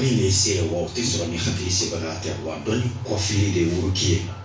Ni se wa tɛ sɔrɔ ni hakili se tɛ wa dɔn kɔfi de woro' ye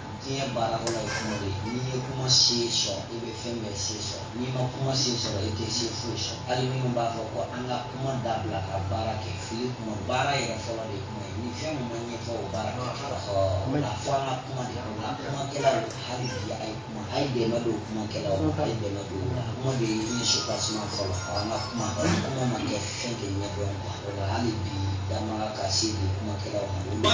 diɲɛ baara fɔlɔ ye kuma de ye n'i ye kuma se sɔrɔ i bɛ fɛn bɛɛ se sɔrɔ n'i ma kuma se sɔrɔ i tɛ se foyi sɔrɔ hali minnu b'a fɔ ko an ka kuma dabila ka baara kɛ fili kuma baara yɛrɛ fɔlɔ de kuma ye ni fɛn min ma ɲɛfɔ o baara kɛ fɔlɔ o la fo an ka kuma de o la kumakɛlaw hali bi a ye kuma a ye dɛmɛ don kumakɛlaw ma a ye dɛmɛ don o la kuma de ye diɲɛ supasima fɔlɔ an ka kuma kuma ma kɛ fɛn de ɲɛdɔn o la hali bi jama ka se di kumakɛlaw ma.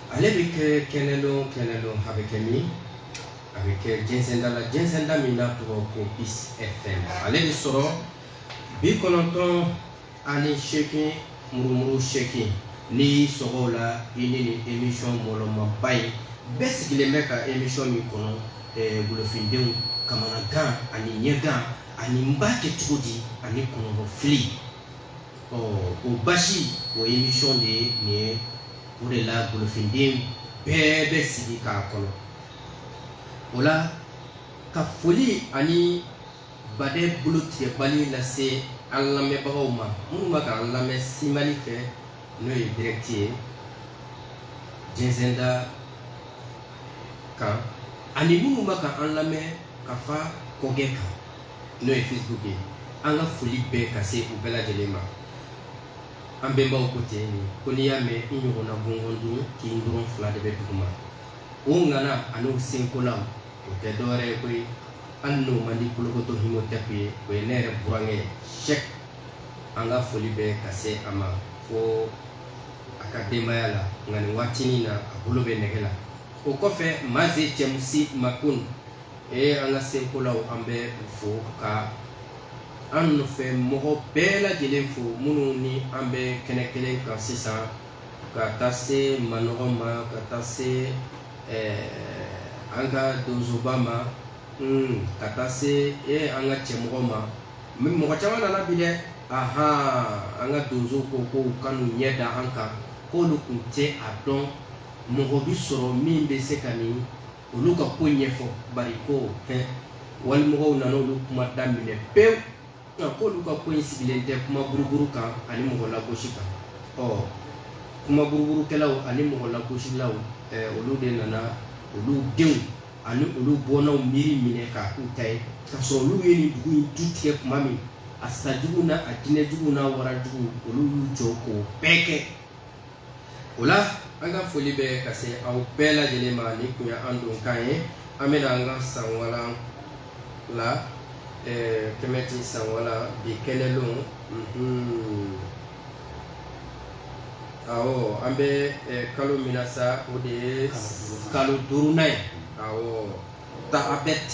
ale bɛ kɛ kɛnɛlon kɛnɛlon a bɛ kɛ min a bɛ kɛ jɛnsɛnda la jɛnsɛnda min n'a tɔgɔ ko Peace FM ale bɛ sɔrɔ bi kɔnɔntɔn ani seegin murumuru seegin n'i y'i sɔgɔ o la i ni nin émission mɔlɔmaba in bɛɛ sigilen bɛ ka émission min kɔnɔ ɛɛ golofindenw kamanagan ani ɲɛgan ani n b'a kɛ cogo di ani kɔnɔgɔfili ɔ o basi o émission de ye nin ye o de la golofinden bɛɛ bɛ sigi k'a kɔnɔ o la ka foli ani baden bolo tigɛbali lase an lamɛnbagaw ma minnu bɛ k'an lamɛn simali fɛ n'o ye direct ye jɛnsɛnda kan ani minnu bɛ k'an lamɛn kafa kɔgɛ kan n'o ye facebook ye an ka foli bɛ ka se u bɛɛ lajɛlen ma an bɛnbaw ko ten nin ko n'i y'a mɛn i ɲɔgɔnna gɔngɔn dun k'i tɔrɔn fila de bɛ duguma o ŋana an'o senkola o tɛ dɔwɛrɛ ye koyi hali n'o man di kolokoto himotɛp ye o ye ne yɛrɛ burankɛ ye Cheikh an ka foli bɛ ka se a ma fo a ka denbaya la nka nin waatinin na a bolo bɛ nɛgɛ la o kɔfɛ maze cɛmusi makun Ee an ka senkolaw an b'u fo ka an nɔfɛ mɔgɔ bɛɛ lajɛlen fo minnu ni an bɛ kɛnɛ kelen kan sisan ka taa se manɔgɔ ma ka taa se an ka donsoba ma ka taa se e an ka cɛmɔgɔ ma mɔgɔ caman nana bi dɛ aɔn an ka donsow ko k'u ka n'u ɲɛ da an kan k'olu tun tɛ a dɔn mɔgɔ bɛ sɔrɔ min bɛ se ka nin olu ka ko ɲɛfɔ bari ko hɛ walimɔgɔw nana olu kuma daminɛ pewu nka k'olu ka ko in sigilen tɛ kuma buruburu kan ani mɔgɔ lagosi kan ɔ kuma buruburukɛlaw ani mɔgɔ lagosilaw eh, olu de nana olu denw ani olu bɔnnaw miiri minɛ k'a k'u ta ye k'a sɔrɔ olu ye nin dugu in tu tigɛ kuma min a sajugu n'a jinɛjugu n'a warajugu olu y'u jɔ k'o bɛɛ kɛ o la an ka foli bɛ ka se aw bɛɛ lajɛlen ma ni kun ye an don kan ye an bɛna an ka sanwalan la Kɛmɛti sanwalan bi kɛnɛlon awɔ an bɛ kalo min na sa o de ye kalo duurunan ye awɔ Taabɛt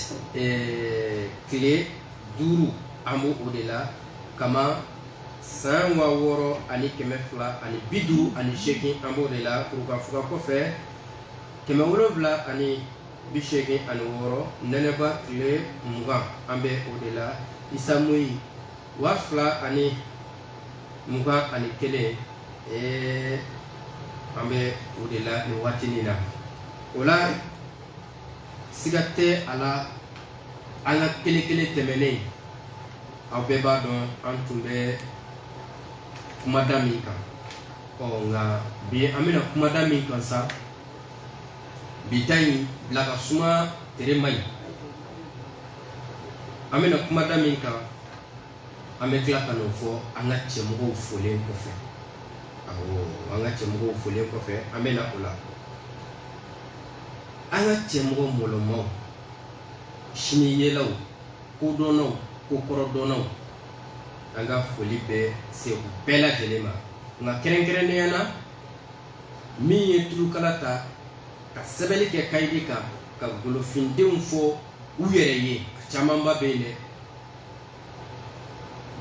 tile duuru an b'o de la ka San waa wɔɔrɔ ani kɛmɛ fila ani bi duuru ani seegin an b'o de la Kurukanfuga kɔfɛ kɛmɛ wolonwula ani bi seegin ani wɔɔrɔ nɛnɛba tile mugan an bɛ o de la Isa mɔyi waa fila ani mugan ani kelen ɛɛ an bɛ o de la nin waati nin na o la siga tɛ a la an ka kelen kelen tɛmɛnen aw bɛɛ b'a dɔn an tun bɛ kumada min kan ɔ nka bi an bɛna kumada min kan sa bi ta in bila ka suma tere man ɲi an bɛna kumada min kan an bɛ tila ka n'o fɔ an ka cɛmɔgɔw folen kɔfɛ awɔ an ka cɛmɔgɔw folen kɔfɛ an bɛna o la an ka cɛmɔgɔ mɔlɔmaw siniyelaw kodɔnnaw kokɔrɔdɔnnaw an ka foli bɛ se u bɛɛ lajɛlen ma nka kɛrɛnkɛrɛnnenya na min ye tulukala ta ka sɛbɛnni kɛ kayidi kan ka golofindenw fɔ u yɛrɛ ye a camanba bɛ yen dɛ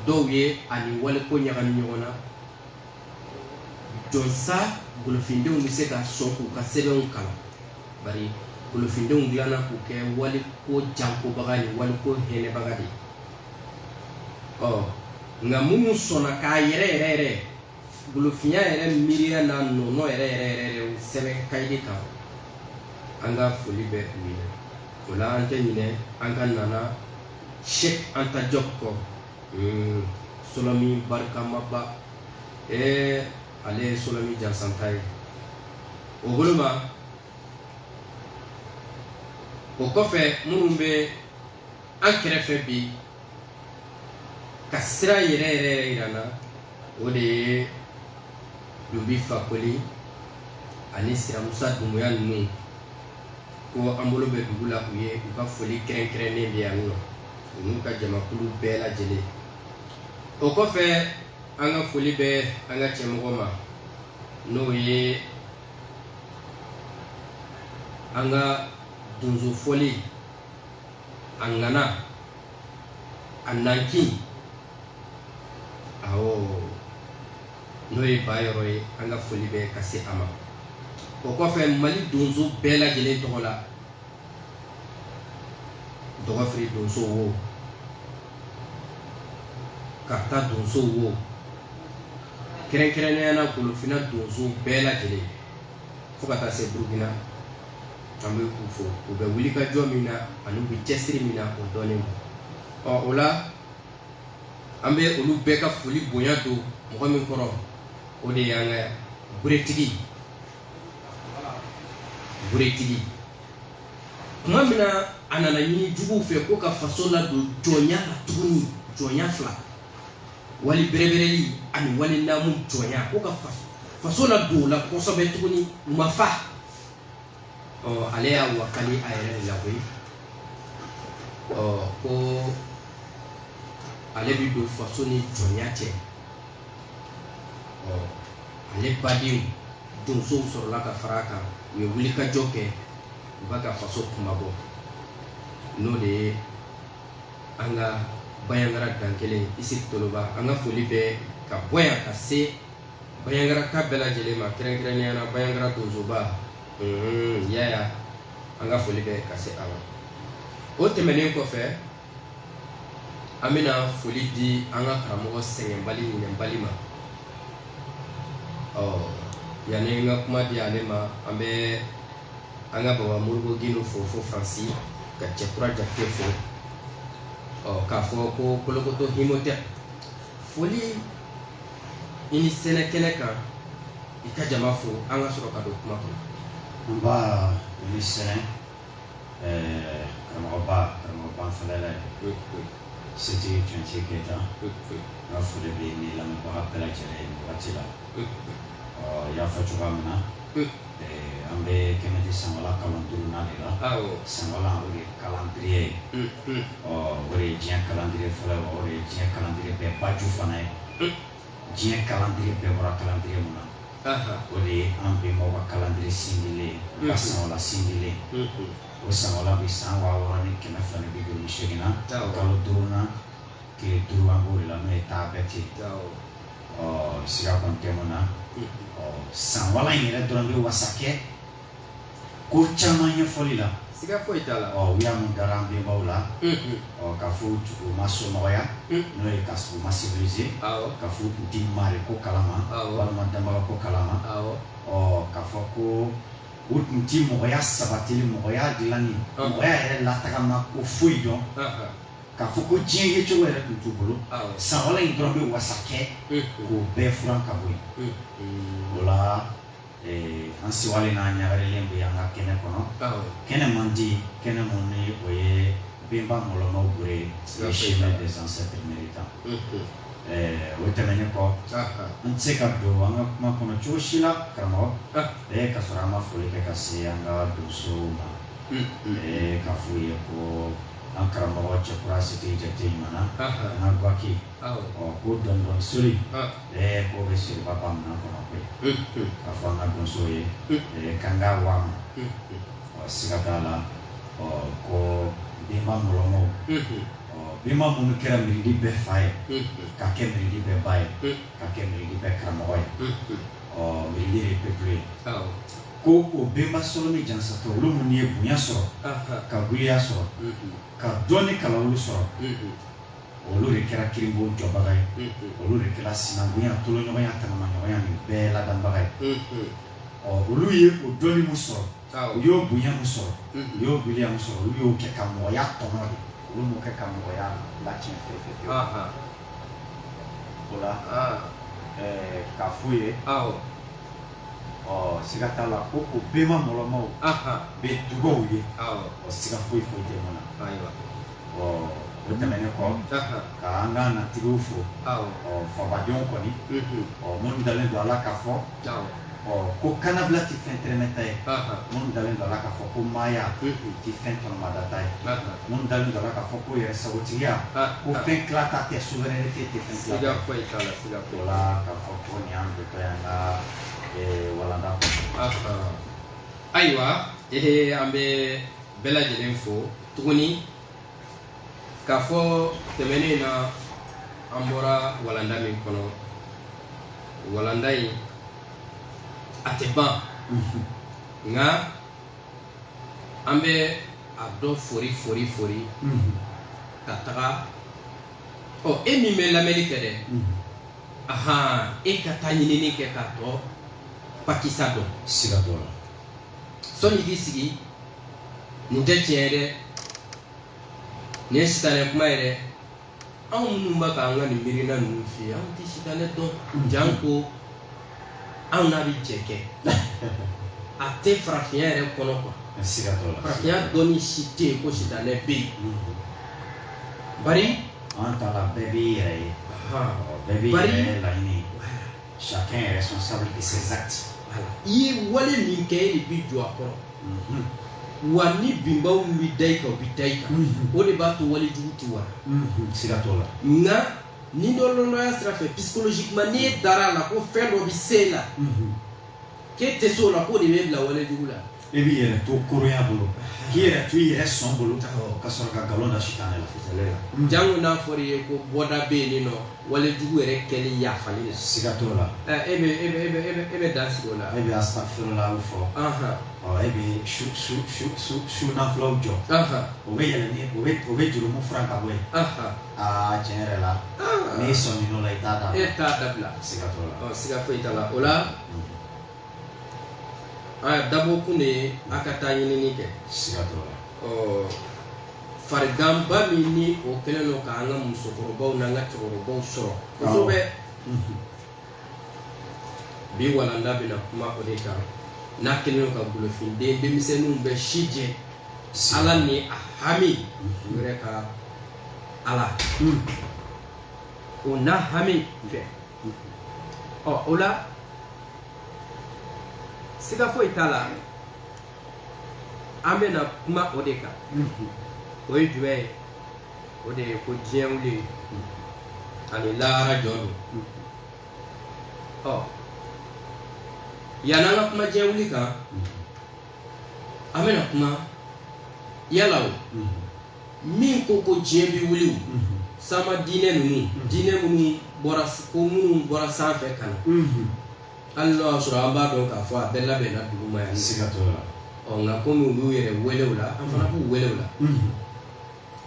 dɔw ye a ni waliko ɲagami ɲɔgɔn na jɔnsa golofindenw bɛ se ka sɔn k'u ka sɛbɛnw kalan bari golofindenw dilanna k'u kɛ waliko jankobaga ni waliko hɛnɛbaga de ɔ nka minnu sɔnna k'a yɛrɛ yɛrɛ yɛrɛ golofinya yɛrɛ miiriya n'a nɔɔnɔ yɛrɛ yɛrɛ yɛrɛ sɛbɛn kayidi kan an ka foli bɛ u ye o la an tɛ ɲinɛ an ka nana Cheikh Anta Diop kɔ hmm, solɔmi barikamaba ee ale ye solɔmi jansanta ye o bolo ma o kɔfɛ minnu bɛ an kɛrɛfɛ bi ka sira yɛrɛ yɛrɛ yɛrɛ yira an na o de ye Dunbi Fakoli ani Siramusa Dunbuya ninnu ko an bolo bɛ dugu la u ye u ka foli kɛrɛnkɛrɛnnen bɛ yan nɔ u n'u ka jamakulu bɛɛ lajɛlen o kɔfɛ an ka foli bɛ an ka cɛmɔgɔ ma n'o ye an ka donso fɔli a ŋana a nankin awɔ n'o ye ba yɔrɔ ye an ka foli bɛ ka se a ma o kɔfɛ mali donso bɛɛ lajɛlen tɔgɔ la dɔgɔfiri donso wo kaarta donso wo kɛrɛnkɛrɛnnenya na golofina donso bɛɛ lajɛlen fo ka taa se burukina an bɛ u fo u bɛ wulikajɔ min na ani u bɛ cɛsiri min na o dɔɔnin ma ɔ o la an bɛ olu bɛɛ ka foli bonya don mɔgɔ min kɔrɔ o de y'an ka buretigi buretigi tuma min na a nana ɲini juguw fɛ ko ka faso ladon jɔnya la tuguni jɔnya fila wali bɛrɛbɛrɛli ani wali naamu jɔnya ko ka faso ladon o la kosɛbɛ tuguni u ma fa ɔ ale y'a wakali a yɛrɛ de la koyi ɔ ko ale bɛ don faso ni jɔnya cɛ ɔ ale badenw donsow sɔrɔla ka fara a kan u ye wulikajɔ kɛ u b'a ka faso kunmabɔ n'o de ye an ka bayangara dankelen isufu toloba an ka foli bɛ ka bɔ yan ka se bayangaraka bɛɛ lajɛlen ma kɛrɛnkɛrɛnnenya na bayangara donsoba yaya an ka foli bɛ ka se a ma o tɛmɛnen kɔfɛ an bɛna foli di an ka karamɔgɔ sɛgɛnbali ɲinɛnbali ma ɔ yanni n ka kuma di ale ma an bɛ an ka baba mori gindo fo fo faransi ka cɛkura jakite fo ɔ k'a fɔ ko kolokoto himotɛp foli i ni sɛnɛ kɛnɛ kan i ka jama fo an ka sɔrɔ ka don kuma kɔnɔ nba i ni sɛnɛ ɛɛ karamɔgɔba karamɔgɔba fɛlɛla ye setigi tunce keyita n ka foli bɛ n lamɛnbaga bɛɛ lajɛlen ye nin wagati la ɔ i y'a fɔ cogoya min na an bɛ kɛmɛti sanbala kalan duurunan de la sanbala o de ye calendrier ye ɔ o de ye diɲɛ calendrier fɔlɔ ye o de ye diɲɛ calendrier bɛɛ baju fana ye diɲɛ calendrier bɛɛ bɔra calendrier min na o de ye an bɛnbaw ka kalandiri sindilen ye u ka sanwala sindilen o sanwala bɛ san waa wɔɔrɔ ni kɛmɛ fila ni bi duuru ni seegin na kalo duurunan tile duuru an b'o de la n'o ye taabɛti ɔ siga kɔni tɛ mun na ɔ sanwala in yɛrɛ dɔrɔn bɛ wasa kɛ ko caman ɲɛfɔli la siga foyi t'a la u y'a mun dara an bɛnbaw la ka fɔ u ma somɔgɔya n'o ye ka u ma civilisé ka fɔ u tɛ mari ko kalama walima danbaga ko kalama ɔ ka fɔ ko u tun tɛ mɔgɔya sabatili mɔgɔya dilanni mɔgɔya yɛrɛ latagama ko foyi dɔn ka fɔ ko diɲɛ yecogo yɛrɛ tun t'u bolo sanwala in dɔrɔn bɛ wasa kɛ k'o bɛɛ furan ka bɔ yen o la an sewalen n'an ɲagarilen bɛ an ka kɛnɛ kɔnɔ kɛnɛ mandi kɛnɛ min ni o ye bɛnba mɔlɔmaw bolo le chemin des ancêtres méritants o tɛmɛnen kɔ an tɛ se ka don an ka kuma kɔnɔ cogo si la karamɔgɔ ee ka sɔrɔ an ma foli kɛ ka se an ka donsow ma ee k'a f'u ye ko an karamɔgɔ cɛkura sete jate ɲuman an ka gaki Ɔ ko donso soli k'o bɛ se ba minnu kɔnɔ ko ye k'a fɔ an ka donso ye k'an ka wa ɔ siga t'a la ɔ ko bɛnba mɔlɔmaw ɔ bɛnba minnu kɛra mirindi bɛɛ fa ye ka kɛ mirindi bɛɛ ba ye ka kɛ mirindi bɛɛ karamɔgɔ ye ɔ mirindi ye peuple ye ko o bɛnba sɔrɔ ni jansatɔ olu minnu ye bonya sɔrɔ ka giliya sɔrɔ ka dɔnni kalan olu sɔrɔ olu de kɛra kirinbo jɔbaga ye olu de kɛra sinankunya toloɲɔgɔnya tanamaɲɔgɔnya nin bɛɛ ladanbaga ye ɔ olu ye o dɔnni min sɔrɔ u y'o bonya min sɔrɔ u y'o giliya min sɔrɔ olu y'o kɛ ka mɔgɔya tɔnɔ de olu m'o kɛ ka mɔgɔya latiɲɛ fewu fewu o la k'a f'u ye ɔ siga t'a la ko o bɛnba mɔlɔmaw bɛ dugaw ye o siga foyi foyi tɛ mun na ɔ o tɛmɛnen kɔ ka an ka natigiw fo ɔ fabajɔw kɔni ɔ minnu dalen don a la k'a fɔ ɔ ko kanabila tɛ fɛn tɛrɛmɛta ye minnu dalen don a la k'a fɔ ko maaya tɛ fɛn tɔnɔmadata ye minnu dalen don a la k'a fɔ ko yɛrɛsagotigiya ko fɛn tilata tɛ souveraineté tɛ fɛn o la k'a fɔ ko nin y'an dontɔ y'an ka walanda ayiwa ee an bɛ bɛɛ lajɛlen fo tuguni k'a fɔ tɛmɛnen in na an bɔra walanda min kɔnɔ walanda in a tɛ ban mhm. nka an bɛ a dɔ fori fori fori mhm. ka taga ɔ e min bɛ lamɛnni kɛ dɛ mhm. ahan e ka taa ɲinini kɛ k'a tɔ pakisa dɔn siga t'o la sɔnni k'i sigi nin tɛ tiɲɛ ye dɛ nin ye sitanɛ kuma ye dɛ anw minnu bɛ k'an ka nin miirina ninnu f'i ye anw tɛ sitanɛ dɔn janko anw n'a bɛ jɛ kɛ a tɛ farafinya yɛrɛ kɔnɔ quoi farafinya dɔnni si tɛ yen ko sitanɛ bɛ yen bari an ta la bɛɛ b'i yɛrɛ ye bɛɛ b'i yɛrɛ laɲini chacun est responsable de ses actes i ye wale min kɛ e de b'i jɔ a kɔrɔ mhm. wa ni binbaw min bɛ da i kan o bɛ da i kan mhm. o de b'a to wale jugu tɛ wara mhm. siga t'o la nka nidɔlɔndɔya sira fɛ psychologiquement ni e dar'a la ko fɛn dɔ bɛ se e la k'e tɛ se o la k'o de bɛ e bila wale jugu la e b'i yɛrɛ to koroya bolo k'i yɛrɛ to i yɛrɛ sɔn bolo ka sɔrɔ ka nkalon da sitanɛ la jango n'a fɔra i ye ko bɔda bɛ yen nɔ wale jugu yɛrɛ kɛli yafali la siga t'o la e e bɛ dan sigi o la e bɛ astafirulaw fɔ e bɛ su nafilaw jɔ o bɛ yɛlɛ o bɛ jurumu fara ka bɔ yen aa tiɲɛ yɛrɛ la n'i sɔmin'o la i t'a dabila e t'a dabila siga t'o la siga foyi t'a la o la dabɔkun de ye a ka taa ɲinini kɛ fariganba min ni o kɛlen don k'an ka musokɔrɔbaw n'an ka cɛkɔrɔbaw sɔrɔ kosɛbɛ bi walanda bɛna kuma o de kan n'a kɛlen don ka golofinden denmisɛnninw bɛɛ si jɛ ala ni a hami u yɛrɛ ka ala o n'a hami fɛ ɔ o la siga foyi t'a la an bɛna kuma o de kan o ye jumɛn ye o de ye ko diɲɛ wuli ani lahara jɔ don ɔ yanni an ka kuma diɲɛ wuli kan an bɛna kuma yala o min ko ko diɲɛ bɛ wuli sama diinɛ ninnu diinɛ minnu bɔra ko minnu bɔra sanfɛ ka na hali n'o y'a sɔrɔ an b'a dɔn k'a fɔ a bɛɛ labɛnna duguma yan siga t'o la ɔ nka komi olu yɛrɛ wele o la an fana b'u wele o la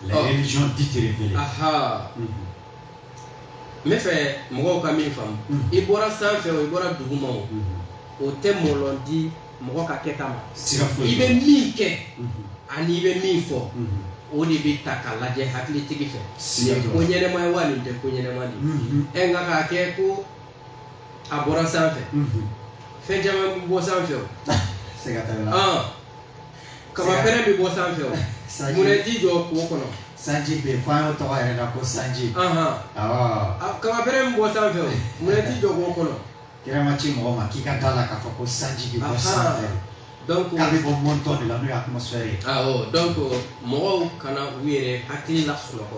les religions dites révélées aha n bɛ fɛ mɔgɔw ka min faamu i bɔra sanfɛ o i bɔra duguma o o tɛ mɔlɔn di mɔgɔ ka kɛta ma siga foyi i bɛ min kɛ mhm. ani i bɛ min fɔ mhm. o de bɛ ta ka lajɛ hakilitigi fɛ nin ye ko ɲɛnɛma ye wa nin tɛ ko ɲɛnɛma de ye mhm. ɛ nka k'a kɛ ko a bɔra sanfɛ fɛn caman bɛ bɔ sanfɛ o kabapɛrɛn bɛ bɔ sanfɛ o munna i t'i jɔ k'o kɔnɔ sanji bɛ yen fo an y'o tɔgɔ yɛrɛ la ko sanji kabapɛrɛn bɛ bɔ sanfɛ o munna i t'i jɔ k'o kɔnɔ Kira ma ci mɔgɔ ma k'i ka da la k'a fɔ ko sanji bɛ bɔ sanfɛ donc k'a bɛ bɔ mɔntɔn de la n'o ye atmosphère ye awɔ donc mɔgɔw kana u yɛrɛ hakili lasunɔgɔ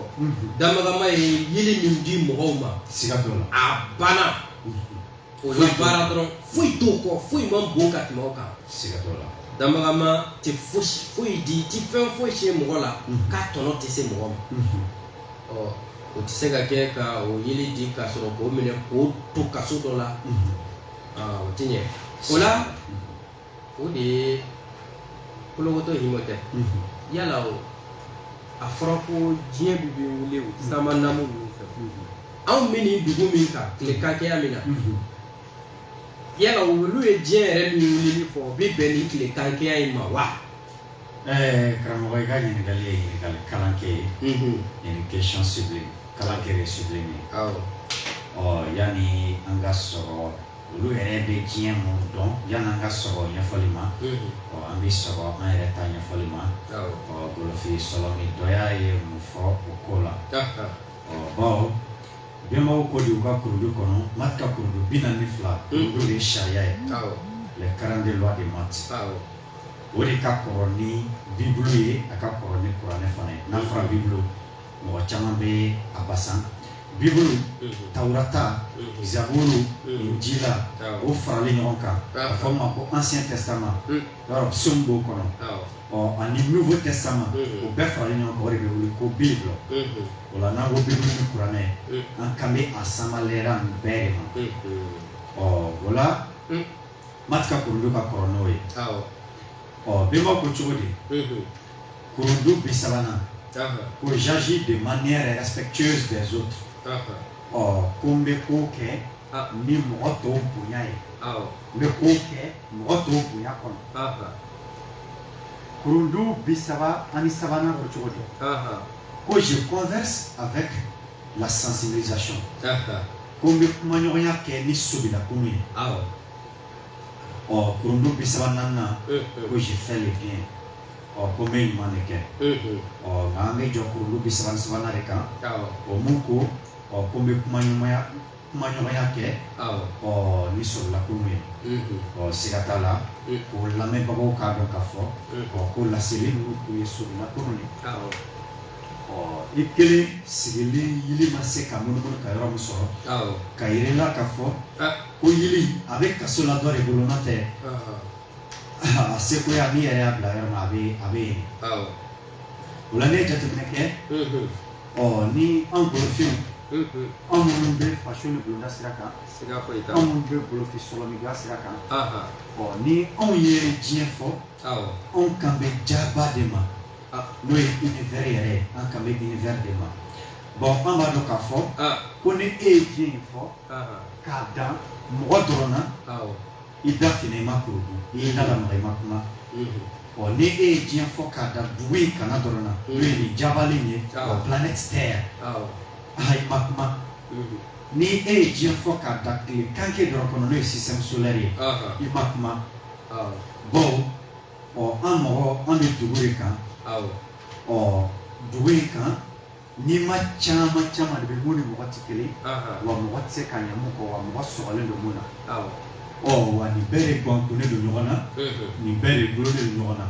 damakanma ye yeli min di mɔgɔw ma siga t'o la a banna o la baara dɔrɔn foyi t'o kɔ foyi man bon ka tɛmɛ o kan siga t'o la damakanma tɛ foyi di i tɛ fɛn foyi se mɔgɔ la k'a tɔnɔ tɛ se mɔgɔ ma ɔ o tɛ se ka kɛ ka o yeli di ka sɔrɔ k'o minɛ k'o to kaso dɔ la o tɛ ɲɛ o la o de ye kolokotɔ himo tɛ yala o a fɔra ko diɲɛ bɛ bɛ wuli o sama namu ninnu fɛ anw bɛ nin dugu min kan tile kakɛya min na yala olu ye diɲɛ yɛrɛ min wulili fɔ o bɛ bɛn ni tile kakɛya in ma wa Ɛɛ karamɔgɔ i ka ɲininkali ye ɲininkali kalan kɛ ye nin ye question ciblée kalan kɛ ye ciblée min ye awɔ ɔ yani an ka sɔrɔ olu yɛrɛ bɛ diɲɛ mun dɔn yani an ka sɔrɔ ɲɛfɔli ma ɔ an bɛ sɔrɔ an yɛrɛ ta ɲɛfɔli ma awɔ ɔ golofin sɔlɔmi dɔya ye mun fɔ o ko la ɔ bawo bɛnbaw ko di u ka kurudu kɔnɔ Mati ka kurudu bi naani ni fila olu de ye sariya ye awɔ les 42 lois de Maât awɔ o de ka kɔrɔ ni bibulu ye a ka kɔrɔ ni kuranɛ fana ye n'a fɔra bibulu mɔgɔ caman bɛ a basan bibulu tawurata zaburu injila o faralen ɲɔgɔn kan a fɔ ma ko ancien testament yɔrɔ psaume b'o kɔnɔ ɔ ani nouveau testament o bɛɛ faralen ɲɔgɔn kan o de bɛ wele ko bible o la n'an ko bibulu ni kuranɛ an kan bɛ a samalɛra nin bɛɛ de ma ɔ o la Mati ka kurudu ka kɔrɔ n'o ye ɔ bɛnbaw ko cogo di kurudu bi sabanan ko j'agis de manière respectueuse des autres ɔ ko n bɛ ko kɛ ni mɔgɔ tɔw bonya ye n bɛ ko kɛ mɔgɔ tɔw bonya kɔnɔ kurudu bi saba ani sabanan ko cogo di ko je converse avec la sensibilisation ko n bɛ kumaɲɔgɔnya kɛ ni sobilakulu ye ɔ kurundu bi saba naaninan ko je fais le bien ɔ ko n bɛ ɲuman de kɛ ɔ nka an bɛ jɔ kurundu bi saba ni sabanan de kan o mun ko ɔ ko n bɛ kumaɲɔgɔnya kɛ ɔ ni sobilakulu ye ɔ siga t'a la ko lamɛnbagaw k'a dɔn k'a fɔ ɔ ko laseli ninnu tun ye sobilakulu de ye ɔ i kelen sigilen yili ma se ka munumunu ka yɔrɔ min sɔrɔ k'a yira i la ka fɔ ko yili a bɛ kaso la dɔ de bolo nɔ tɛ a sekoya min yɛrɛ y'a bila yɔrɔ la a bɛ yen o la ne ye jateminɛ kɛ ɔ ni anw golofinw anw minnu bɛ faso ni bulonda sira kan anw minnu bɛ golofin sɔrɔ ni sira kan ɔ ni anw ye diɲɛ fɔ anw kan bɛ jaba de ma n'o ye univers yɛrɛ ye an kan bɛ univers de ma bon an b'a dɔn k'a fɔ ko ni e ye diɲɛ in fɔ k'a dan mɔgɔ dɔrɔn na i da fina i ma kɔrɔ di i y'i da lamaga i ma kuma ɔ ni e ye diɲɛ fɔ k'a dan dugu in kana dɔrɔn na n'o ye nin jabalen ye o planète terre aha i ma kuma ni e ye diɲɛ fɔ k'a dan tile kankɛ dɔrɔn kɔnɔ n'o ye système solaire ye i ma kuma bon ɔ an mɔgɔ an bɛ dugu de kan ɔ dugu in kan nima caman caman de bɛ mun ni mɔgɔ tɛ kelen wa mɔgɔ tɛ se ka ɲɛ mun kɔ wa mɔgɔ sɔgɔlen don mun na ɔ wa nin bɛɛ de gangannen don ɲɔgɔn na nin bɛɛ de bɔlɔlen don ɲɔgɔn na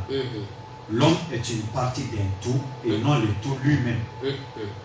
l'homme est une partie d'un tout et non le tout lui-même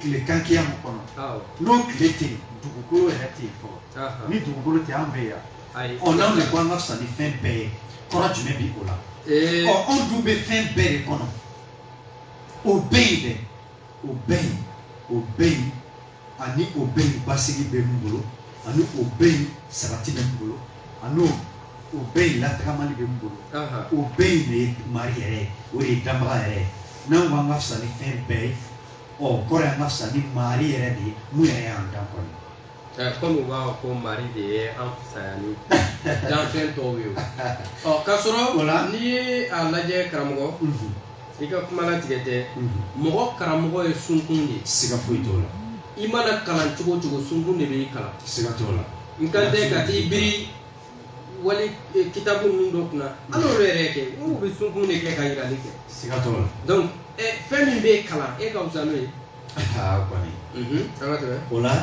tile kankɛya min kɔnɔ n'o tile tɛ dugukolo yɛrɛ tɛ fɔ ni dugukolo tɛ an bɛ yan ɔ n'anw de ko an ka fisa ni fɛn bɛɛ ye kɔrɔ jumɛn bɛ o la ɔ anw dun bɛ fɛn bɛɛ de kɔnɔ o bɛ yen dɛ o bɛ yen o bɛ yen ani o bɛ yen basigi bɛ min bolo ani o bɛ yen sabati bɛ min bolo ani o bɛ yen latagamali bɛ min bolo o bɛ yen de ye mari yɛrɛ ye o de ye danbaga yɛrɛ ye n'an ko an ka fisa ni fɛn bɛɛ ye o kɔrɔ an ka fisa ni mari yɛrɛ de ye mun yɛrɛ y'an dan kɔni kɔmi u b'a fɔ ko mari de ye an fisaya ni danfɛn tɔw ye ɔ k'a sɔrɔ n'i ye a lajɛ karamɔgɔ mhm. i ka kuma latigɛ tɛ mhm. mɔgɔ karamɔgɔ ye sunkun de ye siga foyi t'o la i mana kalan cogo cogo sunkun de b'i kalan siga t'o la n kan tɛ ka t'i biri wali eh, kitabu ninnu dɔ kunna hali olu yɛrɛ kɛ u bɛ sunkun de kɛ ka yirali kɛ siga t'o la donc eh, fɛn min bɛ kalan e ka fisa n'o ye aa kɔni mhm, an ka to o la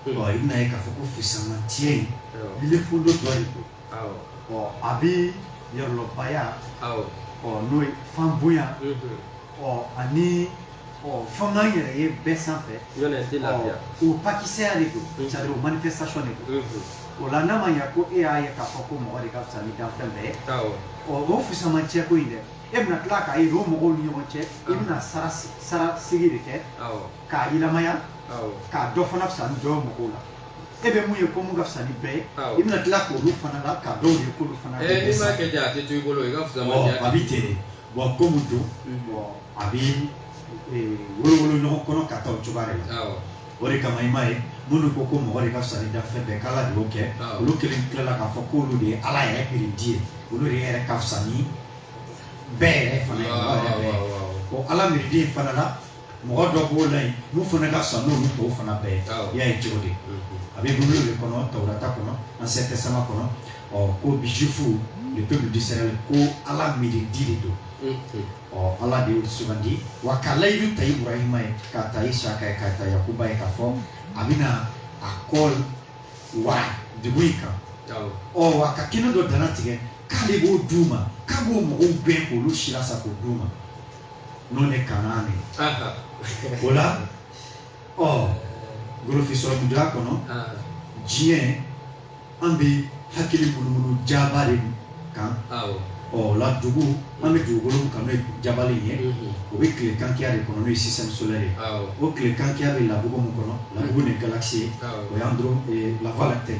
Mm. ɔ i bɛna ye k'a fɔ ko fisamantiya in awɔ bile fundo dɔ de don awɔ ɔ a bɛ yɔrɔlɔbaya awɔ ɔ n'o ye fan bonya mhm, ɔ ani ɔ fanga yɛrɛ ye bɛɛ sanfɛ o pakisɛya de don mhm. c'est-à-dire o manifestation de don mhm. o la n'a ma ɲɛ ko e y'a ye k'a fɔ ko mɔgɔ de ka fisa ni danfɛn bɛɛ ye ɔ o fusama cɛko in dɛ e bɛna tila k'a ye o mɔgɔw ni ɲɔgɔn cɛ i bɛna sara sigi de kɛ k'a yilamaya ka dɔ fana fisa ni dɔ ye mɔgɔw la e bɛ mun ye ko mun ka fisa ni bɛɛ ye i bɛna tila k'olu fana la ka dɔw ye k'olu fana fisa. ɛ n'i m'a kɛ ten a tɛ to i bolo i ka fisamantiya. ɔ a bɛ ten de. bon ko mun don a bɛ wolowolo ɲɔgɔn kɔnɔ ka taa cogoya de la o de kama i m'a ye minnu ko ko mɔgɔ de ka fisa ni danfɛn bɛɛ k'ala de y'o kɛ olu kelen tilala k'a fɔ k'olu de ye ala yɛrɛ mirindi ye olu de yɛrɛ ka fisa ni bɛɛ yɛrɛ fana ye mɔgɔ yɛrɛ bɛɛ ye o ala mirindi fana la mɔgɔ dɔ b'o la yen n'u fana ka fisa n'olu tɔw fana bɛɛ ye Awɔ. i y'a ye cogo di a bɛ bibulu de kɔnɔ tawurata kɔnɔ ancien testament kɔnɔ ɔ ko bi juif le peuple d'Israël ko ala mirindi de don Unhun. ɔ ala de y'o sugandi wa ka layidu ta ibrahima ye k'a ta isaka ye k'a ta yakuba ye k'a fɔ a bɛna a kɔ wara dugu in kan Awɔ. ɔ wa ka kɛnɛ dɔ dana tigɛ k'ale b'o d'u ma k'a b'o mɔgɔw gɛn k'olu silasa k'o d'u ma n'o de kanaan ye o la ɔ golofin sɔrɔmudoya kɔnɔ diɲɛ an bɛ hakili munumunu jaba de kan ɔ o la dugu an bɛ dugukolo min kan n'o ye jabali ye o bɛ tile kankiya de kɔnɔ n'o ye système solaire ye o tile kankiya bɛ labugu min kɔnɔ labugu de galaxie ye o y'an dɔrɔn la voie lactée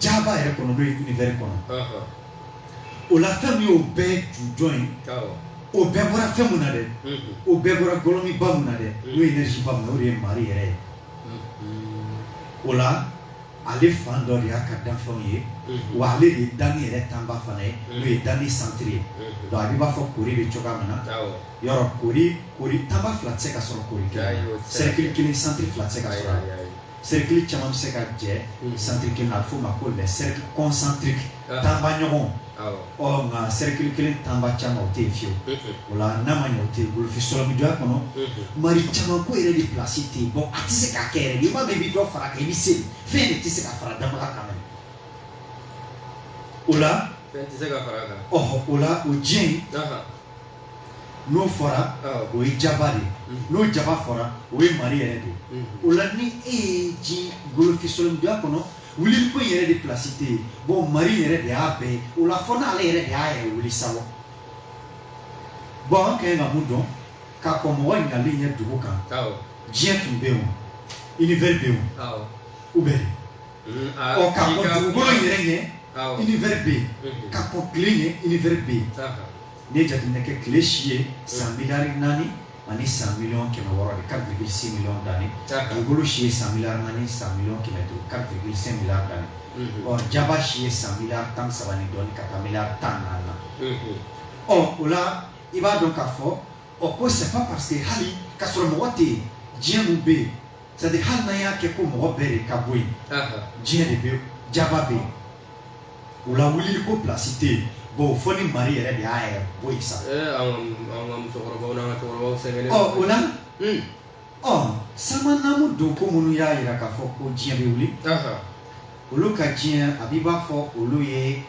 jaba yɛrɛ kɔnɔ n'o ye univers kɔnɔ o la fɛn min y'o bɛɛ jujɔn ye o bɛɛ bɔra fɛn mun na dɛ o bɛɛ bɔra gɔlɔmiba mun na dɛ n'o ye énergie ba mun na o de ye mari yɛrɛ ye o la ale fan dɔ de y'a ka danfɛnw ye wa ale de ye danni yɛrɛ tanba fana ye n'o ye danni centre ye donc a b'i b'a fɔ kori bɛ cogoya min na yɔrɔ kori kori tanba fila tɛ se ka sɔrɔ kori kelen na cercle kelen centre fila tɛ se ka sɔrɔ a la cercle caman bɛ se ka jɛ centre kelen na a bɛ f'o ma ko les cercles concentriques tanba ɲɔgɔn ɔ nka cercle kelen tanba caman o tɛ yen fiyewu o la n'a ma ɲɛ o tɛ yen golofin sɔrɔmudoya kɔnɔ mari caman ko yɛrɛ de place tɛ yen bon a tɛ se ka kɛ yɛrɛ n'i m'a mɛn i bɛ dɔ fara a kan i bɛ se fɛn de tɛ se ka fara danbaga kan mɛnɛ o la fɛn tɛ se ka fara a kan ɔhɔ o la o diɲɛ in n'o fɔra o ye jaba de n'o jaba fɔra o ye mari yɛrɛ de o la ni e ye diɲɛ golofin sɔrɔmudoya kɔnɔ wuli ko yɛrɛ de place tɛ yen bon mari yɛrɛ de y'a bɛɛ o la fɔ n'ale yɛrɛ de y'a yɛrɛ wuli sa bon an ka ɲi ka mun dɔn ka kɔn mɔgɔ nali ɲɛ dugu kan diɲɛ tun bɛ yen univers bɛ yen o bɛ yen ɔ ka kɔn dugu yɛrɛ ɲɛ univers bɛ yen ka kɔn tile ɲɛ univers bɛ yen n'i ye jateminɛ kɛ tile si ye san miliyari naani ani san miliyɔn kɛmɛ wɔɔrɔ de quatre virgule six millions d'années dugukolo si ye san miliyari naani san miliyɔn kɛmɛ duuru quatre virgule cinq milliards d'années ɔ jaba si ye san miliyari tan ni saba ni dɔɔni ka taa miliyari tan ni naani na ɔ o la i b'a dɔn k'a fɔ ɔ ko c'est pas parce que hali k'a sɔrɔ mɔgɔ tɛ yen diɲɛ mun bɛ yen c'est à dire hali n'an y'a kɛ ko mɔgɔ bɛɛ de ka bɔ yen diɲɛ de bɛ jaba bɛ yen o la wulili ko place tɛ yen bon fo ni mari yɛrɛ de y'a yɛrɛ bɔ yen sa o la ɔ sama namu don ko minnu y'a yira k'a fɔ ko diɲɛ bɛ wuli olu ka diɲɛ a b'i b'a fɔ olu ye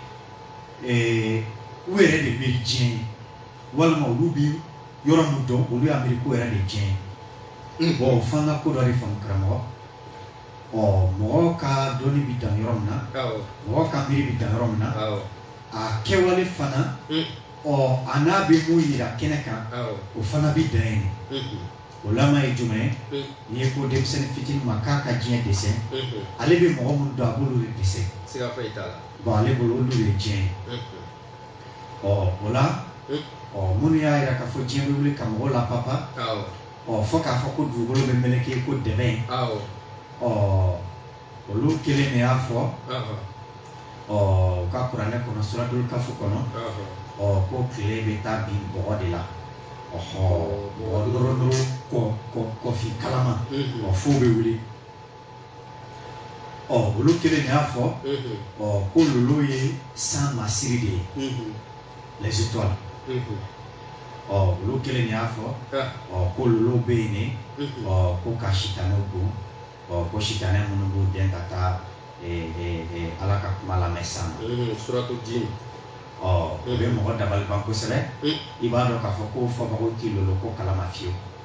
u yɛrɛ de miiri diɲɛ ye walima olu bɛ yɔrɔ min dɔn olu y'a miiri k'o yɛrɛ de diɲɛ ye bon ɔ f'an ka ko dɔ de faamu karamɔgɔ ɔ mɔgɔ ka dɔnni bɛ dan yɔrɔ min na mɔgɔ ka miiri bɛ dan yɔrɔ min na a kɛwale fana hmm. ɔ a n'a bɛ mun yira kɛnɛ kan o fana bɛ dan yen hmm. o lama ye jumɛn ye hmm. n'i ye ko denmisɛnnin fitinin ma k'a ka diɲɛ dɛsɛn ale bɛ mɔgɔ minnu dɔn a b'olu de dɛsɛn bon ale bolo olu de ye diɲɛ ye ɔ o la ɔ minnu y'a yira k'a fɔ diɲɛ bɛ wuli ka mɔgɔw lapapa ɔ fo k'a fɔ ko dugukolo bɛ meleke ko dɛbɛn ɔ olu kelen de y'a fɔ ɔ u ka kuranɛ kɔnɔ suratul kafu kɔnɔ ɔ ko tile bɛ taa bin bɔgɔ de la ɔhɔ bɔgɔ dɔrɔn dɔrɔn kɔ kɔ kɔfin kalama ɔ f'o bɛ wuli ɔ olu kelen de y'a fɔ ɔ ko lolo ye san masiri de ye les étoiles ɔ olu kelen de y'a fɔ ɔ ko lolo bɛ yen ne ɔ ko ka sitanɛ bon ɔ ko sitanɛ minnu b'u dɛn ka taa ala ka kuma lamɛn san suratu jin ɔ o bɛ mɔgɔ dabaliban kosɛbɛ i b'a dɔn k'a fɔ ko fɔbagaw tɛ lolo ko kalama fiyewu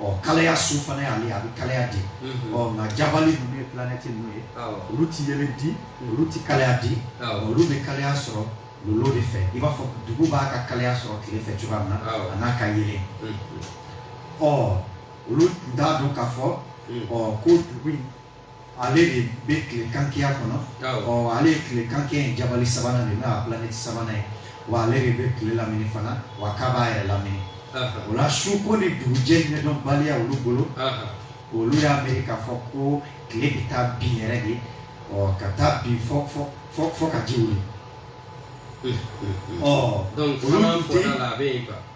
ɔ kalaya sun fana y'ale a bɛ kalaya di ɔ nka jabali ninnu ye planɛti ninnu ye olu tɛ yeelen di olu tɛ kalaya di olu bɛ kalaya sɔrɔ lolo de fɛ i b'a fɔ dugu b'a ka kalaya sɔrɔ tile fɛ cogoya min na a n'a ka yeelen ɔ olu tun t'a dɔn k'a fɔ ɔ ko dugu in Ale de bɛ tile kankɛya kɔnɔ ale ye tile kankɛya in jabali sabanan de n'a planɛti sabanan ye wa ale de bɛ tile lamini fana wa k'a b'a yɛrɛ lamini o la su ko ni dugujɛ ɲɛdɔnbaliya olu bolo olu y'a miiri k'a fɔ ko tile bɛ taa bin yɛrɛ de ɔ ka taa bin fo fo fo fo ka ji wuli ɔ donc fana fɔra la a bɛ yen quoi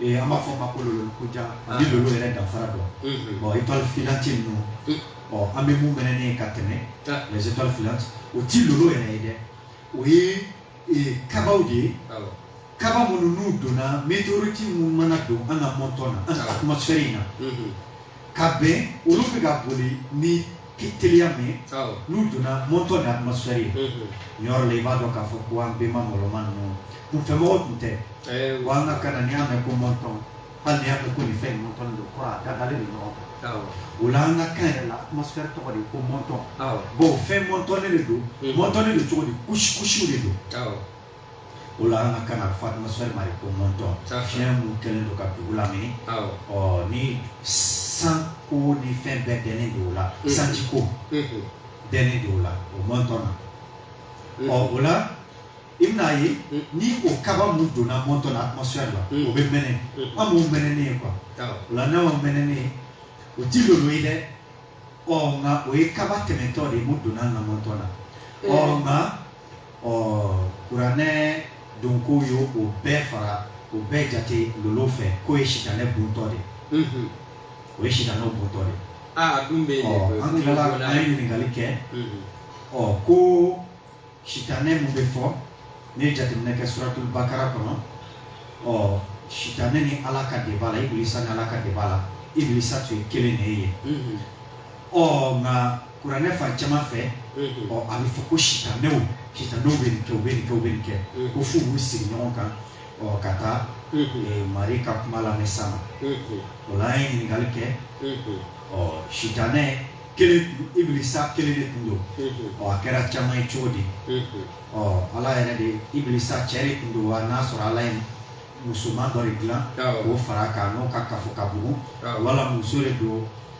Ee an b'a fɔ ma ko lolo kojan ni lolo yɛrɛ danfara dɔn bon étoile filante ninnu ɔ an bɛ mun mɛnɛnen ye ka tɛmɛ les étoiles filantes o ti lolo yɛrɛ ye dɛ o ye kabaw de ye kaba minnu n'u donna météorite minnu mana don an ka mɔntɔn na an ka atmosphère in na ka bɛn olu bɛ ka boli ni ki teliya min ye n'u donna mɔntɔn ni atmosphère ye yɔrɔ la i b'a dɔn k'a fɔ ko an bɛnba mɔlɔma ninnu kunfɛmɔgɔ tun tɛ wa an ka kan na n'i y'a mɛn ko mɔntɔn hali n'i y'a mɛn ko nin fɛn in mɔntɔnnen don kɔrɔ a dadalen don ɲɔgɔn kan o la an ka kan yɛrɛ la atmosphère tɔgɔ de ko mɔntɔn bon fɛn mɔntɔnnen de don mɔntɔnnen don cogo di couche couche de don O la an ka kan a fɔ atmosphère ma de ko mɔntɔn, fiɲɛ min kɛlen don ka dugu lamini, awɔ, ɔ ni san ko ni fɛn bɛɛ dɛnnen don o la, unhun, sanji ko, unhun, dɛnnen don o la o mɔntɔn na, unhun, ɔ o la i bɛna a ye ni o kaba mun donna mɔntɔn na atmosphère la, unhun, o bɛ mɛnɛ, unhun, an b'o mɛnɛnen ye quoi, awɔ, o la n'an y'o mɛnɛnen ye o ti lolo ye dɛ, ɔ nka o ye kaba tɛmɛntɔ de ye mun donna an ka mɔntɔn na, ɔ nka ɔ kuranɛ donko ye o bɛɛ fara o bɛɛ jate lolo fɛ k'o ye sitanɛ buntɔ de ye o ye sitanɛw buntɔ de ye ah, a dun bɛ yen ɔ an tilala an ye ɲininkali kɛ ɔ ko sitanɛ mun bɛ fɔ ne ye jateminɛ kɛ suratul bakara kɔnɔ ɔ sitanɛ ni ala ka débat la ibilisa ni ala ka débat la ibilisa tun ye kelen de ye ɔ nka kuranɛ fan caman fɛ ɔ a bɛ fɔ ko sitanɛw sitanɛw bɛ nin kɛ u bɛ nin kɛ u bɛ nin kɛ ko f'u b'u sigi ɲɔgɔn kan ɔ ka taa mari ka kuma lamɛn san o la an ye ɲininkali kɛ ɔ sitanɛ kelen ibilisa kelen de tun don ɔ a kɛra caman ye cogo di ɔ ala yɛrɛ de ibilisa cɛ de tun don wa n'a sɔrɔ ala ye musoman dɔ de dilan k'o fara a kan n'o ka kafo ka bugun wala muso de don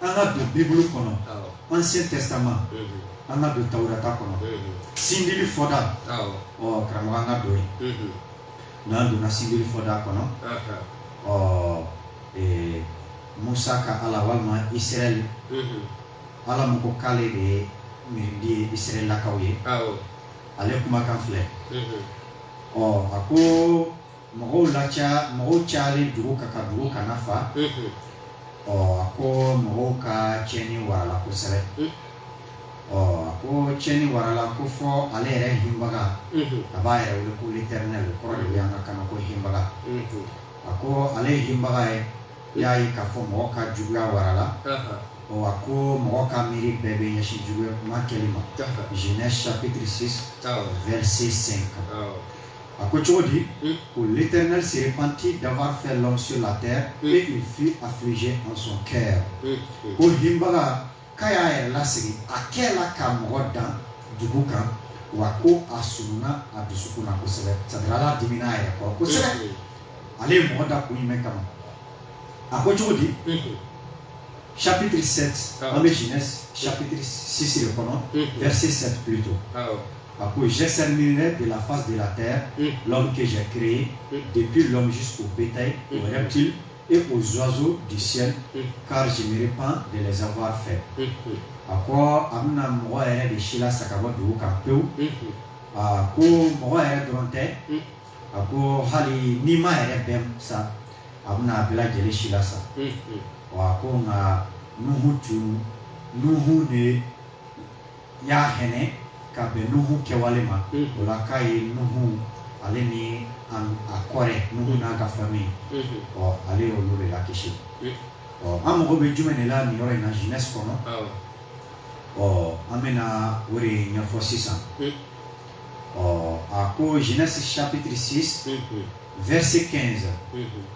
an ka don bibulu kɔnɔ ancien testament an ka don tawurata kɔnɔ sindili fɔda ɔ karamɔgɔ an ka don yen n'an donna sindili fɔda kɔnɔ ɔ musa ka ala walima israɛl ala min ko k'ale de ye mirindi ye israɛlakaw ye ale kumakan filɛ ɔ a ko mɔgɔw la mɔgɔw calen dugu kan ka dugu kana fa ɔ a ko mɔgɔw ka cɛni warala kosɛbɛ ɔ a ko cɛni warala ko fɔ ale yɛrɛ hinbaga a b'a yɛrɛ wele ko l'Éternel o kɔrɔ de ye an ka kan na ko hinbaga a ko ale ye hinbaga ye i y'a ye k'a fɔ mɔgɔ ka juguya warala ɔ a ko mɔgɔ ka miiri bɛɛ bɛ ɲɛsin juguya kuma kelen ma Genèse chapitre 6 verset 5 a ko cogo di mm. ko l'éternel se repentit d'avoir fait l'homme sur la terre mm. et il fut affligé en son cœur mm. ko hinbaga k'a y'a yɛrɛ lasigi a kɛ la ka mɔgɔ dan dugu kan wa ko a sununa a dusukun na kosɛbɛ c'est-à-dire ala dimina a yɛrɛ kɔrɔ kosɛbɛ ale ye mɔgɔ da kun jumɛn kama a ko cogo di chapitre 7 ah. an bɛ genèse chapitre 6 de kɔnɔ verset 7 plutôt ah, A ko zsɛme de lafa de la tɛ lɔnkisɛɛn kire ye depi lammisi su bɛta yen o yɛrɛ ci e ko zsonozo di ka zeme pan dezfa fɛ a ko a bɛna mɔgɔ yɛrɛ de si la saba don ka pewu aa ko mɔgɔ yɛrɛ dɔrɔn tɛ a ko hali ni ma yɛrɛ bɛ sa a bɛna a bɛ lajɛlen si la sa ko nka numu tun numu de ye n y'a hɛnɛ ka bɛn nuhu kɛwale ma o la k'a ye nuhu ale ni a kɔrɛ nuhu n'a ka famille ɔ ale ye olu de lakisi ɔ an mago bɛ jumɛn de la nin yɔrɔ in na genèse kɔnɔ ɔ an bɛna o de ɲɛfɔ sisan ɔ a ko genèse chapitre 6 verset 15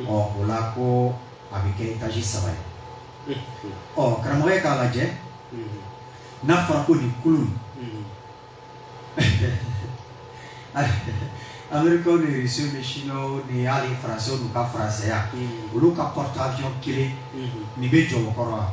ɔ o la ko a bɛ kɛ etaji saba ye ɔ karamɔgɔkɛ k'a lajɛ n'a fɔra ko nin kulun américain ni russe ni chinois ni hali faransɛw n'u ka faransɛya olu ka porte-avion kelen nin bɛ jɔ o kɔrɔ wa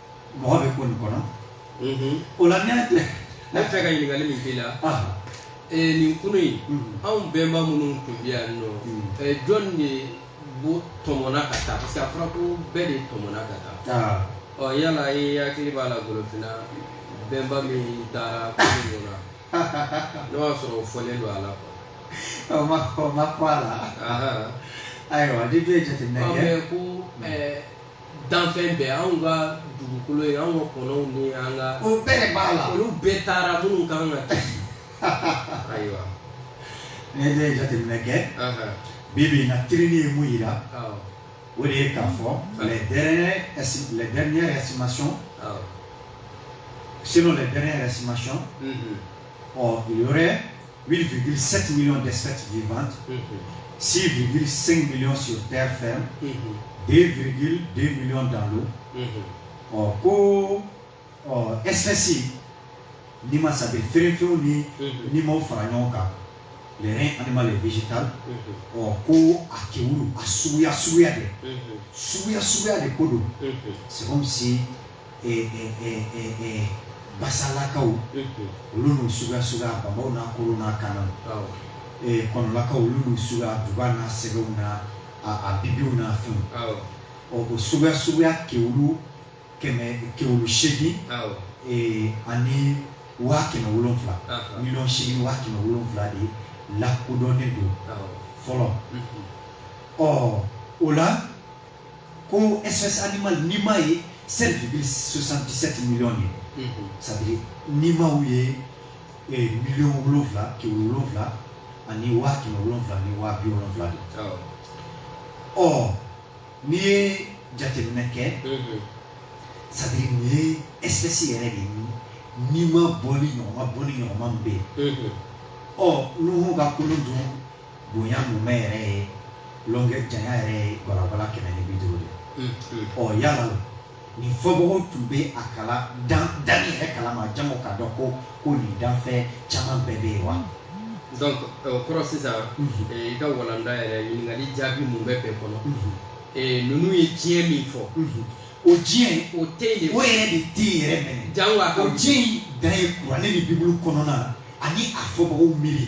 mɔgɔ bɛ kun nin kɔnɔ o la ne tun b'a fɛ ka ɲininkali min k'i la nin kulun in anw bɛnba minnu tun bɛ yan nɔ jɔn de bo tɔmɔna ka taa parce que a fɔra ko bɛɛ de tɔmɔna ka taa ɔ yala i hakili b'a la golofinna bɛnba min taara kulun ɲɔgɔn na n'o y'a sɔrɔ o fɔlen don a la quoi o ma o ma fɔ a la ayiwa ne dun ye jateminɛ kɛ ko danfɛn bɛɛ anw ka dugukolo ye anw ka kɔnɔw ni an ka o bɛɛ de b'a la olu bɛɛ taara minnu kan ka kɛ ayiwa ne ne ye jateminɛ kɛ bi bi in na tirili ye mun yira o de ye k'a fɔ les dernières les dernières estimations selon les dernières estimations ɔ il y aurait 8,7 millions d'espèces vivantes, 6,5 millions sur terre ferme, 2,2 millions dans l'eau. Ɔ ko ɔ espèce nima c'est-à-dire fɛrɛnfɛnw ni nimaw fara ɲɔgɔn kan le règne animal et végétal ɔ ko a kewulu a suguya suguya de suguya suguya de ko don c'est comme si basalakaw olu n'u suguya suguya bambaw n'a korow n'a kaanaw kɔnɔlakaw olu n'u suguya duga n'a sɛgɛw n'a a bibiw n'a fɛnw ɔ o suguya suguya kewulu kewulu seegin ani waa kɛmɛ wolonwula miliyɔn seegin waa kɛmɛ wolonwula de lakodɔnnen don fɔlɔ ɔ o la ko espèce animale nima ye 7,77 millions de ye c'est à dire nimaw ye eh, miliyɔn wolonwula kɛmɛ wolonwula ani waa kɛmɛ wolonwula ni waa bi wolonwula de ɔ n'i ye jateminɛ kɛ c'est à dire nin ye espèce yɛrɛ de ye nima bɔlen ɲɔgɔn ma bɔlen ɲɔgɔn ma min bɛ yen ɔ nuhu ka kulun dun bonya mumɛ yɛrɛ ye longueur janya yɛrɛ ye gwalagwala kɛmɛ ni bi duuru de ɔ yala nin fɔbagaw tun bɛ a kala dan yɛrɛ kalama jango k'a dɔn ko ko nin danfɛn caman bɛɛ bɛ yen wa donc o euh, kɔrɔ sisan euh, i ka walanda yɛrɛ ɲininkali jaabi mun bɛ bɛɛ kɔnɔ euh, ninnu ye diɲɛ min fɔ o diɲɛ o tɛ yen o yɛrɛ de tɛ yen yɛrɛ mɛnɛ jango a ka o diɲɛ in dan ye kuranɛ ni bibulu kɔnɔna na ani a fɔbagaw miiri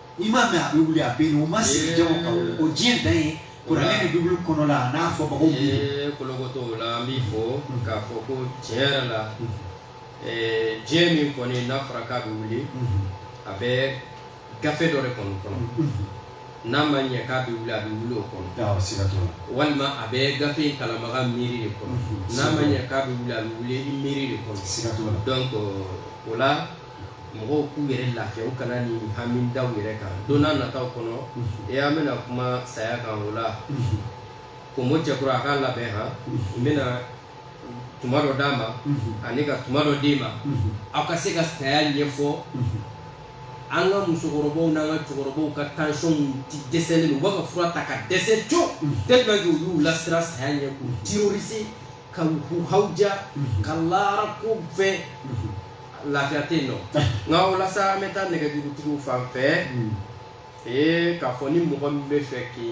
I m'a mɛn a bɛ wuli a bɛ yen o ma sigi jango ka o diɲɛ dan ye kuranɛ ni bibulu kɔnɔ la a n'a fɔbagaw ye kolokotɔ o la an b'i fɔ k'a fɔ ko tiɲɛ yɛrɛ la diɲɛ min kɔni n'a fɔra k'a bɛ wuli a bɛ gafe dɔ de kɔnɔ kɔnɔ n'a ma ɲɛ k'a bɛ wuli a bɛ wuli o kɔnɔ walima a bɛ gafe in kalanbaga miiri de kɔnɔ n'a ma ɲɛ k'a bɛ wuli a bɛ wuli i miiri de kɔnɔ donc o la mɔgɔw k'u yɛrɛ lafiya u kana ni hami da u yɛrɛ kan don nataw kɔnɔ e an bɛna kuma saya kan o la komo cɛkura a k'a labɛn han n bɛna tuma dɔ d'a ma ani ka tuma dɔ d'i ma aw ka se ka saya ɲɛfɔ an ka musokɔrɔbaw n'an ka cɛkɔrɔbaw ka tension tɛ dɛsɛ u b'a ka fura ta ka dɛsɛ co tellement que u y'u lasiran saya ɲɛ k'u terroriser k'u hawuja ka laara ko fɛ lafiya tɛ yen nɔ nka o la sa an bɛ taa nɛgɛjurutigiw fan fɛ ee k'a fɔ ni mɔgɔ min bɛ fɛ k'i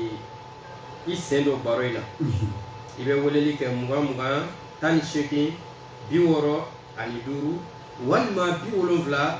i sen don baro in na i bɛ weleli kɛ mugan mugan tan ni seegin bi wɔɔrɔ ani duuru walima bi wolonwula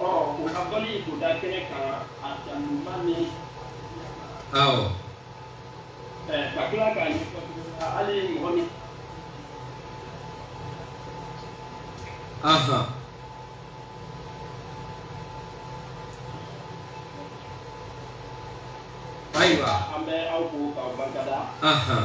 ɔ o ka bɔli k'o da kɛnɛ kan a dan ɲuman ni awɔ ɛ ka tila k'a ɲɛfɔ tuguni hali mɔgɔ min ahan ayiwa an bɛ aw fo k'aw barika da ahan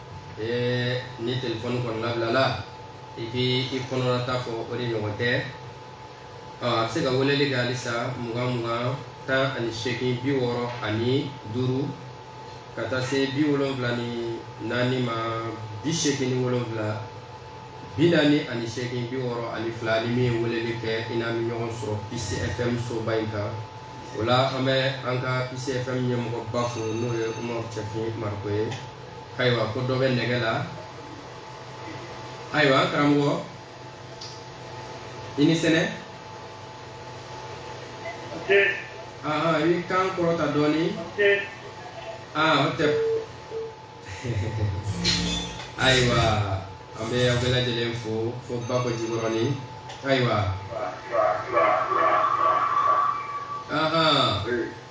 ee ni telefɔni kɔni labilala i k'i i kɔnɔnata fɔ o de ɲɔgɔn tɛ a bɛ se ka weleli kɛ halisa mugan mugan tan ani seegin bi wɔɔrɔ ani duuru ka taa se bi wolonwula ni naani ma bi seegin ni wolonwula bi naani ani seegin bi wɔɔrɔ ani fila ni min ye weleli kɛ i n'an bɛ ɲɔgɔn sɔrɔ Peace FM soba in kan o la an bɛ an ka Peace FM ɲɛmɔgɔba fo n'o ye Umaru Cɛfin Mariko ye ayiwa ko dɔ bɛ nɛgɛ la ayiwa karamɔgɔ i ni sɛnɛ aa i b'i kan kɔrɔta dɔɔnin aa o tɛ ayiwa an bɛ aw bɛɛ lajɛlen fo fo Bako Jikɔrɔni ayiwa ahan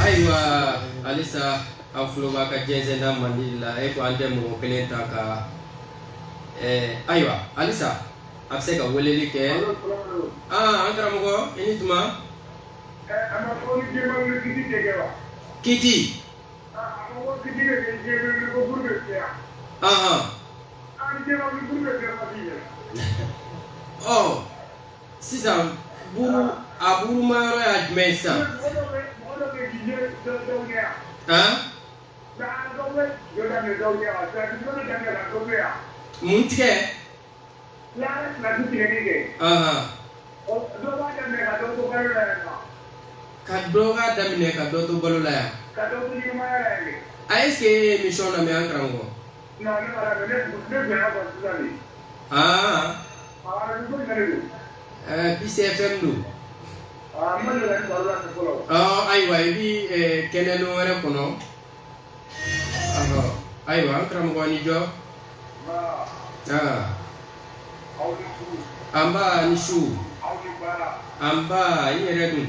Ayiwa halisa aw tulo b'an ka jɛnsɛnda mandi la e ko an tɛ mɔgɔ kelen ta ka ayiwa halisa a bɛ se ka weleli kɛ aa an karamɔgɔ i ni tuma kɛ di ɔ sisan buru a buru ma yɔrɔ y'a jumɛn ye sisan han mun tigɛ ahan ka dɔ k'a daminɛ ka dɔ to bolo la yan a est ce que e ye émission lamɛn an karamɔgɔ Peace FM don ayiwa i bɛ kɛnɛ dɔ wɛrɛ kɔnɔ ayiwa an karamɔgɔ ni jɔ nba i ni su nba i yɛrɛ dun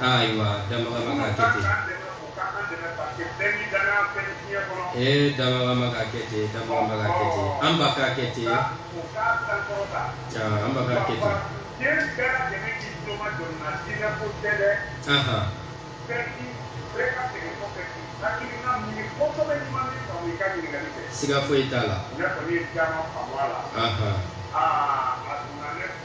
ayiwa dabagaba k'a kɛ ten ee dabagaba k'a kɛ ten dabagaba k'a kɛ ten an ba k'a kɛ ten an ba k'a kɛ ten anhan siga foyi t'a la anhan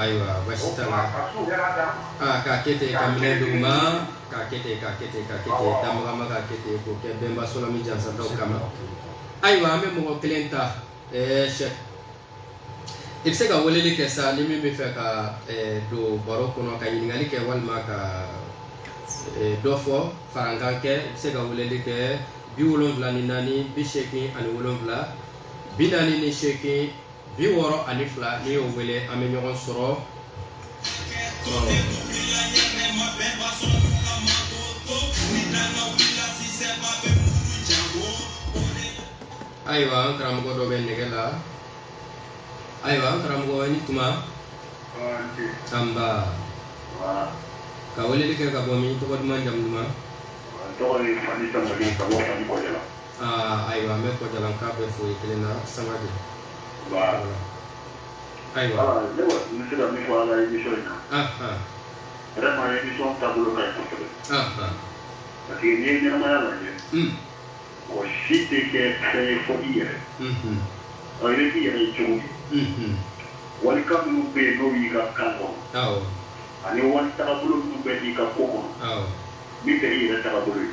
ayiwa baasi t'a la aa k'a kɛ ten ka minɛ d'u ma k'a kɛ ten k'a kɛ ten k'a kɛ ten damagama k'a kɛ ten k'o kɛ bɛnba sɔlɔmi jansantaw kama ayiwa an bɛ mɔgɔ kelen ta ɛɛ sɛ i bɛ se ka weleli kɛ sa ni min b'a fɛ ka don baro kɔnɔ ka ɲininkali kɛ walima ka dɔ fɔ farankan kɛ i bɛ se ka weleli kɛ bi wolonwula ni naani bi seegin ani wolonwula bi naani ni seegin bi wɔɔrɔ ani fila n'i y'o wele an bɛ ɲɔgɔn sɔrɔ ayiwa an karamɔgɔ dɔ bɛ nɛgɛ la ayiwa an karamɔgɔ i ni tuma nba ka weleli kɛ ka bɔ min tɔgɔ duman jamu duman ayiwa an bɛ kɔjalankaw bɛɛ fo kelen na sangare ayiwa ne bɛ se ka min fɔ a la émission in na vraiment émission taabolo ka ɲi kosɛbɛ parce que n'i ye ɲɛnamaya lajɛ mɔgɔ si tɛ kɛ fɛn ye fɔ i yɛrɛ ɔ i bɛ k'i yɛrɛ ye cogo di walikan minnu bɛ yen n'o y'i ka kan kɔnɔ ani wali tagabolo minnu bɛ i ka ko kɔnɔ min tɛ i yɛrɛ tagabolo ye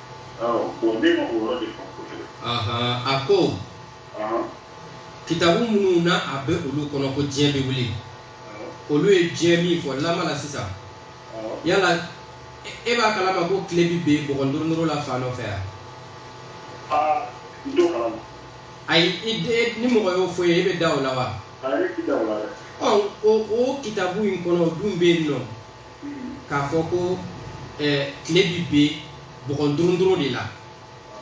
a ko kitabu minnu na a bɛ olu kɔnɔ ko diɲɛ bɛ wuli olu ye diɲɛ min fɔ lama la sisan yala e b'a kalama ko tile bɛ bin bɔgɔ duuru duuru la fan dɔ fɛ yan ayi ni mɔgɔ y'o fɔ i ye e bɛ da o la wa o kitabu in kɔnɔ o dun bɛ yen nɔ k'a fɔ ko tile bɛ bin bɔgɔ duuru duuru de la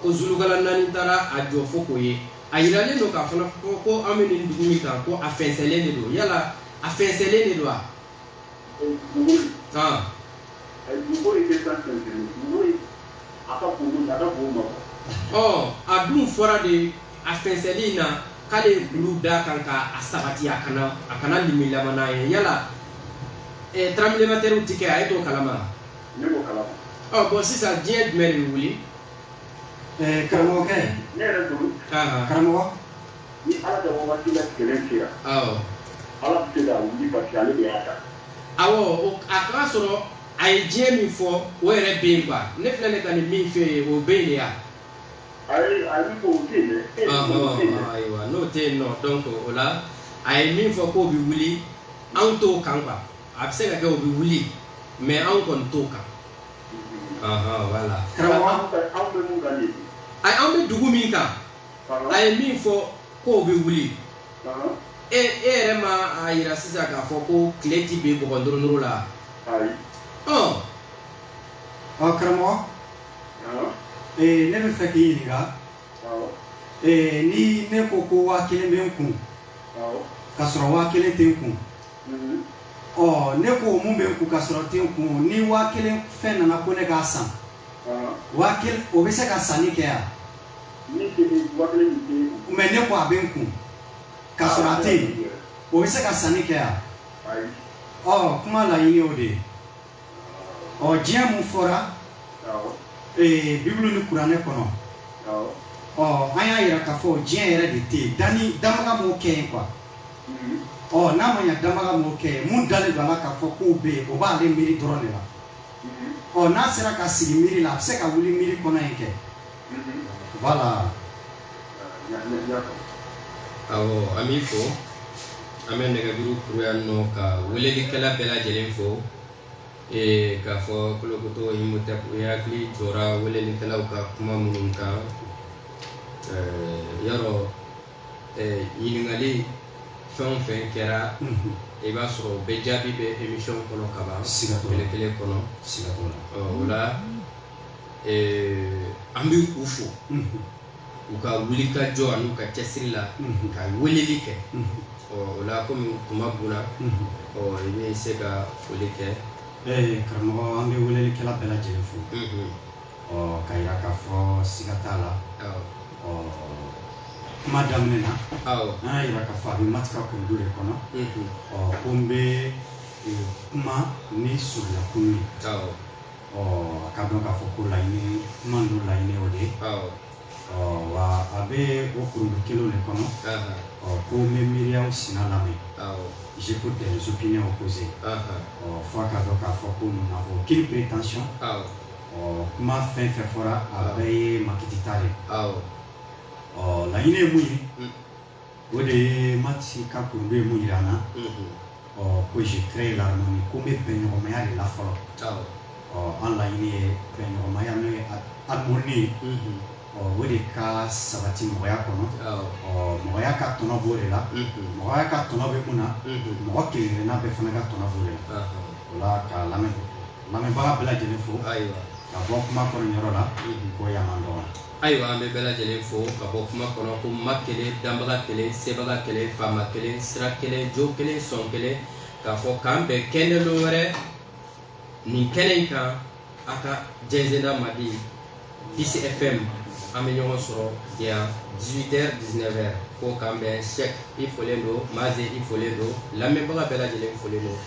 ko zulukalanaani taara a jɔ fo k'o ye a jiralen don k'a fana fɔ ko an bɛ nin dugu min kan ko a fɛnsɛnnen de don yala a fɛnsɛnnen de don wa a dun fɔra de a fɛnsɛnli in na k'ale ye kulu d'a kan ka a sabati a kana a kana limilama n'a ye yala eh, tranbilematɛriw ti kɛ a ye t'o kalama wa? ne b'o kalama ɔ bon sisan diɲɛ jumɛn de bɛ wuli Eh, karamɔgɔkɛ ne yɛrɛ bolo Ahan, karamɔgɔ ni ala ka wagati la kelen sera awɔ ala bɛ se k'a wuli parce que ale de y'a da awɔ o- a k'a sɔrɔ a ye diɲɛ min fɔ o yɛrɛ bɛ yen quoi ne filɛ ne ka nin min fɛ yen o bɛ yen de ya N'o tɛ yen nɔ donc o la a ye min fɔ k'o bɛ wuli anw t'o kan a bɛ se ka kɛ o bɛ wuli mais anw kɔni t'o kan a an bɛ dugu min kan a ye min fɔ k'o bɛ wuli e e yɛrɛ ma a jira sisan k'a fɔ ko tile tɛ bin bɔgɔ duuru la ɔ ɔ karamɔgɔ ee ne bɛ fɛ k'i ɲininka ee ni ne ko ko waa kelen bɛ n kun ka sɔrɔ waa kelen tɛ n kun mhm. ɔ ne ko mun bɛ n kun ka sɔrɔ tɛ n kun ni waa kelen fɛn nana ko ne k'a san waa kelen o bɛ se ka sanni kɛ yan mais ne ko a bɛ n kun ka sɔrɔ a tɛ yen o bɛ se ka sanni kɛ yan ɔ kuma laɲini o de ye. ɔ diɲɛ mun fɔra ee bibulu ni kuranɛ kɔnɔ ɔ an y'a yira k'a fɔ diɲɛ yɛrɛ de tɛ yen danni danbaga m'o kɛ yen quoi mhm. ɔ n'a ma ɲa danbaga m'o kɛ yen mun dalen don a la k'a fɔ k'o bɛ yen o b'ale miiri dɔrɔn de la mhm. ɔ n'a sera ka sigi miiri la a bɛ se ka wuli miiri kɔnɔ yen kɛ Voilà. Awɔ an b'i fo an bɛ nɛgɛjuru kuru yan nɔ ka welelikɛla bɛɛ lajɛlen fo ee k'a fɔ kolokoto Imhotep u hakili jɔra welelikɛlaw ka kuma minnu kan ɛɛ yarɔ ɛɛ ɲininkali fɛn o fɛn kɛra i b'a sɔrɔ o bɛɛ jaabi bɛ émission kɔnɔ kaban siga t'o la tile kelen kɔnɔ siga t'o la ɔ o la an bɛ u fo u ka wulikajɔ ani u ka cɛsiri la ka weleli kɛ ɔ o la kɔmi tuma banna ɔ i bɛ se ka foli kɛ karamɔgɔ an bɛ welelikɛla bɛɛ lajɛlen fo ɔ k'a jira k'a fɔ siga t'a la ɔ kuma daminɛ na an y'a jira k'a fɔ a bɛ Mati ka kurundu de kɔnɔ ɔ ko n bɛ kuma ni surunyakulu ye Ɔ k'a dɔn k'a fɔ ko laɲini kuma ninnu laɲini o de ye awɔ ɔ wa a bɛ o kurundu kelen de kɔnɔ anhan ɔ ko n bɛ miiriyaw sina lamɛn awɔ j'écoute des opinions opposées anhan ɔ fo a k'a dɔn k'a fɔ ko nous n'avons aucune prétention awɔ ɔ kuma fɛn fɛn fɔra a bɛɛ ye makiti ta de ye awɔ ɔ laɲini ye mun ye un o de ye Mati ka kurundu ye mun jira an na, unhun, ɔ ko je crée l'harmonie ko n bɛ bɛnɲɔgɔnmaya de la fɔlɔ, awɔ, ɔ an laɲini ye bɛnɲɔgɔnmaya n'o ye harmonie ye, unhun, ɔ o de ka sabati mɔgɔya kɔnɔ, awɔ, ɔ mɔgɔya ka tɔnɔ b'o de la, unhun, mɔgɔya ka tɔnɔ bɛ mun na, unhun, mɔgɔ kelen-kelenna bɛɛ fana ka tɔnɔ b'o de la, anhan, o la ka lamɛn lamɛnbaga bɛɛ lajɛlen fo, ayiwa, ka bɔ kuma kɔnɔ nin yɔrɔ la, unhun, ko yan man dɔgɔ. Ayiwa an bɛ bɛɛ lajɛlen fo ka bɔ kuma kɔnɔ ko ma kelen danbaga kelen sebaga kelen faama kelen sira kelen jo kelen sɔn kelen k'a fɔ k'an bɛn kɛnɛ dɔ wɛrɛ nin kɛnɛ in kan a ka jɛnsɛnda mardi Peace FM an bɛ ɲɔgɔn sɔrɔ yan dix-huit heures dix-neuf heures ko k'an bɛn Cheikh i folen don Maze i folen don lamɛnbaga bɛɛ lajɛlen folen don